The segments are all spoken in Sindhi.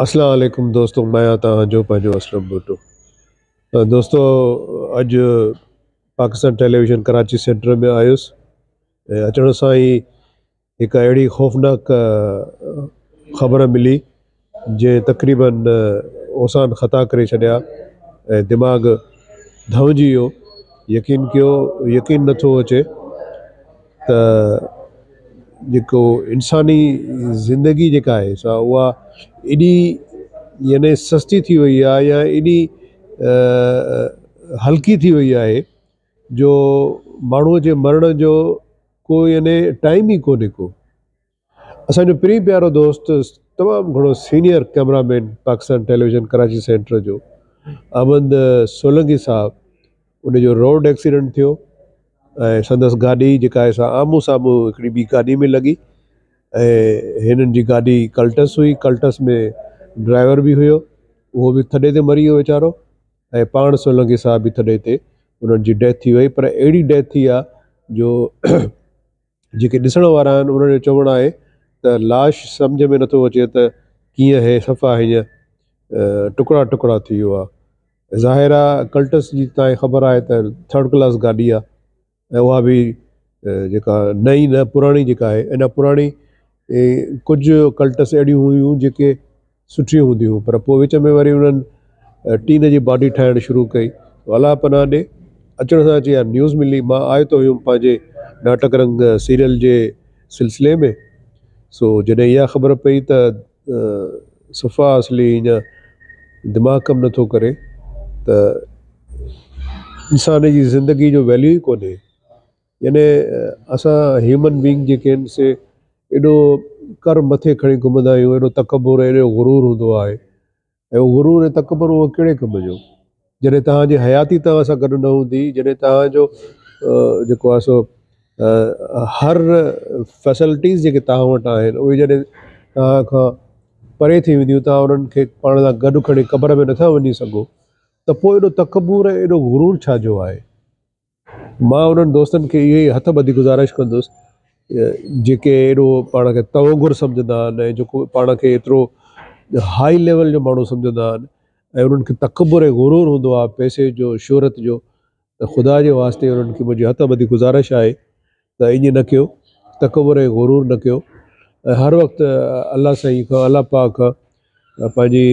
اسلام عليڪم دوستو مان آهيان توهان جو پنهنجو اسلم ڀٽو دوستو اڄ پاڪستان ٽيليويزن ڪراچي سينٽر ۾ آيس ۽ اچڻ سان ئي هڪ اهڙي خوفناڪ خبر ملي جنهن تقريباً اوسان خطا ڪري ڇڏيا ۽ دماغ ڌئونجي ويو. يقين ڪيو، يقين نه ٿو اچي ته جيڪو انساني زندگي جيڪا آهي سا اها ايڏي يعني سستي ٿي وئي آهي يا ايڏي هلڪي ٿي وئي آهي جو ماڻهوء جي مرڻ جو ڪو يعني ٽائيم ئي ڪونهي ڪو. اسان جو پرين پيارو دوست تمام گهڻو senior camera man Pakistan television Karachi centre جو احمد سولنگي صاحب ان جو روڊ ايڪسيڊنٽ ٿيو ۽ سندس گاڏي جيڪا آهي سا آمهون سامهون هڪڙي ٻي گاڏي ۾ لڳي ۽ هنن جي گاڏي ڪلٽس هئي ڪلٽس ۾ ڊرائيور به هيو اهو به ٿڏي تي مري ويو ويچارو ۽ پاڻ سولنگي صاحب به ٿڏي تي انهن جي ڊيٿ ٿي وئي پر اهڙي ڊيٿ ٿي آهي جو جيڪي ڏسڻ وارا آهن انهن جو چوڻ آهي ته لاش سمجهه ۾ نٿو اچي ته ڪيئن هي صفا هيئن ٽڪڙا ٽڪڙا ٿي ويو آهي ظاهر آهي ڪلٽس جي تائين خبر آهي ته ٿرڊ ڪلاس گاڏي آهي ۽ اها به جيڪا نئين نه پراڻي جيڪا آهي اڃا پراڻي ڪجهه ڪلٽس اهڙيون هيون جيڪي سٺيون هونديون هيون پر پوء وچ ۾ وري انهن ٽين جي باڊي ٺاهڻ شروع ڪئي تو الله پناهه ڏي اچڻ سان اچي اها نيوز ملي مان آيو ته هيم پنهنجي ناٽڪ رنگ سيريل جي سلسلي ۾ سو جڏهن اها خبر پئي ته صفا اصلي هينئن دماغ ڪم نه ٿو ڪري ته انسان جي زندگي جو ويليو ئي ڪونهي. يعني اسان هيومن بينگ جيڪي آهن سي ايڏو ڪر مٿي کڻي گهمندا آهيون ايڏو تڪبر ايڏو غرور هوندو آهي ۽ اهو غرور ۽ تڪبر اهو ڪهڙي ڪم جو جڏهن توهان جي حياتي توهان سان گڏ نه هوندي جڏهن توهان جو جيڪو آهي سو هر فيسلٽيز جيڪي توهان وٽ آهن اهي جڏهن توهان کان پري ٿي وينديون توهان انهن کي پاڻ سان گڏ کڻي قبر ۾ نٿا وڃي سگهو ته پوء ايڏو تڪبر ۽ ايڏو غرور ڇا جو آهي مان انهن دوستن کي اهو ئي هٿ ٻڌي گذارش ڪندس جيڪي ايڏو پاڻ کي توانگر سمجهندا آهن ۽ جيڪو پاڻ کي ايترو هائي ليول جو ماڻهو سمجهندا آهن ۽ انهن کي تڪبر ۽ غرور هوندو آهي پئسي جو شهرت جو ته خدا جي واسطي انهن کي منهنجي هٿ ٻڌي گذارش آهي ته ائين نه ڪيو تڪبر ۽ غرور نه ڪيو ۽ هر وقت الله سائين کان الله پاڪ کان پنهنجي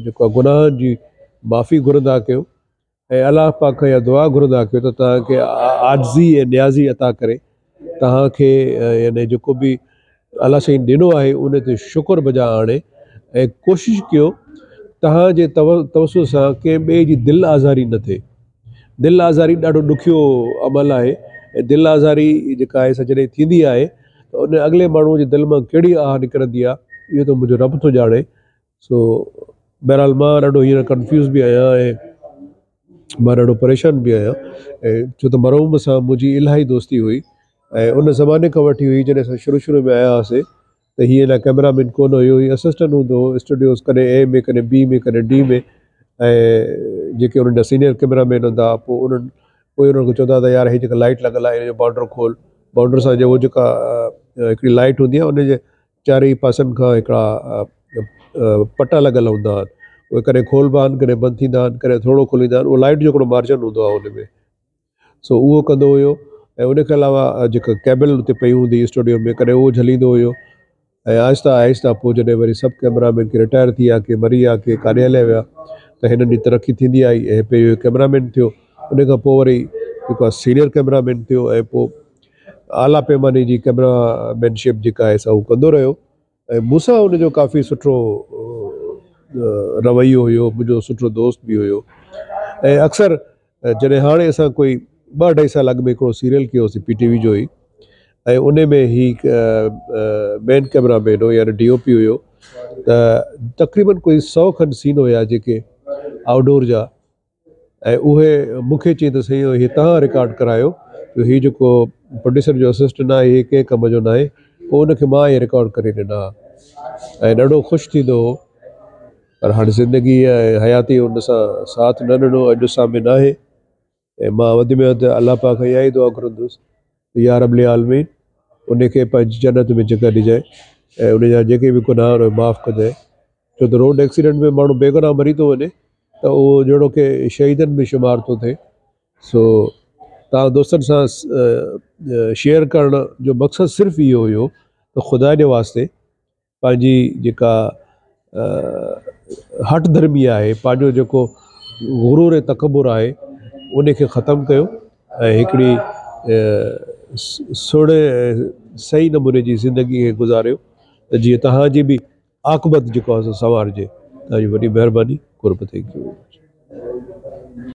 جيڪو گناهن جي معافي گهرندا ڪيو ۽ الله پاڪ کان اها دعا گهرندا ڪيو ته توهان کي عاجزي ۽ نيازي عطا ڪري توهان کي يعني جيڪو به الله سائين ڏنو آهي ان تي شڪر بجا آڻي ۽ ڪوشش ڪيو توهان جي توسل سان ڪنهن ٻئي جي دل آزاري نه ٿئي دل آزاري ڏاڍو ڏکيو عمل آهي ۽ دل آزاري جيڪا آهي سا جڏهن ٿيندي آهي ته ان اڳلي ماڻهوء جي دل مان ڪهڙي آهه نڪرندي آهي اهو ته منهنجو رب ٿو ڄاڻي سو بهرحال مان ڏاڍو هينئر ڪنفيوز به آهيان ۽ مان ڏاڍو پريشان به آهيان ۽ ڇو ته مرحوم سان منهنجي الاهي دوستي هئي ۽ ان زماني کان وٺي هئي جڏهن اسان شروع شروع ۾ آيا هئاسي ته هي اڃا ڪئميرا مين ڪونه هيو هي اسسٽنٽ هوندو هو اسٽوڊيوز ڪڏهن اي ۾ ڪڏهن بي ۾ ڪڏهن ڊي ۾ ۽ جيڪي انهن جا سينئر ڪئميرا مين هوندا هئا پوء انهن پوء انهن کي چوندا هئا ته يار هي جيڪا لائٽ لڳل آهي هن جو بانڊر کول بانڊر سان جو هو جيڪا هڪڙي لائٽ هوندي آهي ان جي چارئي پاسن کان هڪڙا پٽا لڳل هوندا آهن اهي ڪڏهن کولبا آهن ڪڏهن بند ٿيندا آهن ڪڏهن ٿورڙو کوليندا آهن اهو لائٽ جو هڪڙو مارجن هوندو آهي ان ۾ سو اهو ڪندو هيو ۽ ان کان علاوه جيڪا ڪيبل اتي پئي هوندي اسٽوڊيو ۾ ڪڏهن اهو جليندو هيو ۽ آهسته آهسته پوء جڏهن وري سڀ ڪئميرا مين ڪي رٽائر ٿي ويا ڪي مري ويا ڪي ڪاڏي هليا ويا ته هنن جي ترقي ٿيندي آئي ۽ پيو هيو ڪئميرا مين ٿيو ان کان پوء وري جيڪو سينئر ڪئميرا مين ٿيو ۽ پوء اعليٰ پيماني جي ڪئميرا مين شپ جيڪا آهي سا هو ڪندو رهيو ۽ مون سان ان جو ڪافي سٺو رويو هيو منهنجو سٺو دوست به هيو ۽ اڪثر جڏهن هاڻي اسان ڪوئي ٻه اڍائي سال اڳ ۾ هڪڙو سيريل ڪيو هوسي پي ٽي وي جو ئي ۽ ان ۾ هي مين ڪئميرا مين هو يعني ڊي او پي هيو ته تقريبن ڪوئي سئو کن سين هيا جيڪي آئوٽ ڊور جا ۽ اهي مون کي چيائين ته سائين هي توهان رڪارڊ ڪرايو جو هي جيڪو پروڊيوسر جو اسسٽنٽ آهي هي ڪنهن ڪم جو ناهي پوء ان کي مان هي رڪارڊ ڪري ڏنا ۽ ڏاڍو خوش ٿيندو هو پر هاڻي زندگي ۽ حياتي ان سان ساٿ نه ڏنو اڄ سامي ناهي ۽ مان وڌ ۾ وڌ الله پاڪ کان اها ئي دعا گهرندس يا رب العالمين ان کي پنهنجي جنت ۾ جڳهه ڏجانء ۽ ان جا جيڪي به گناهه آهن اهي معاف ڪجانء ڇو ته روڊ ايڪسيڊنٽ ۾ ماڻهو بيگناهه مري ٿو وڃي ته اهو جهڙو ڪي شهيدن ۾ شمار ٿو ٿئي سو توهان دوستن سان شيئر ڪرڻ جو مقصد صرف اهو هيو ته خدا جي واسطي پنهنجي جيڪا هٺ ڌرمي آهي پنهنجو جيڪو غرور ۽ تڪبر آهي ان کي ختم ڪيو ۽ هڪڙي سھڻي صحيح نموني جي زندگي کي گذاريو ته جيئن تهانجي به عاقبت جيڪو آهي سو سنوارجي تهانجي وڏي مهرباني قرب ٿينڪ يو ويري مچ.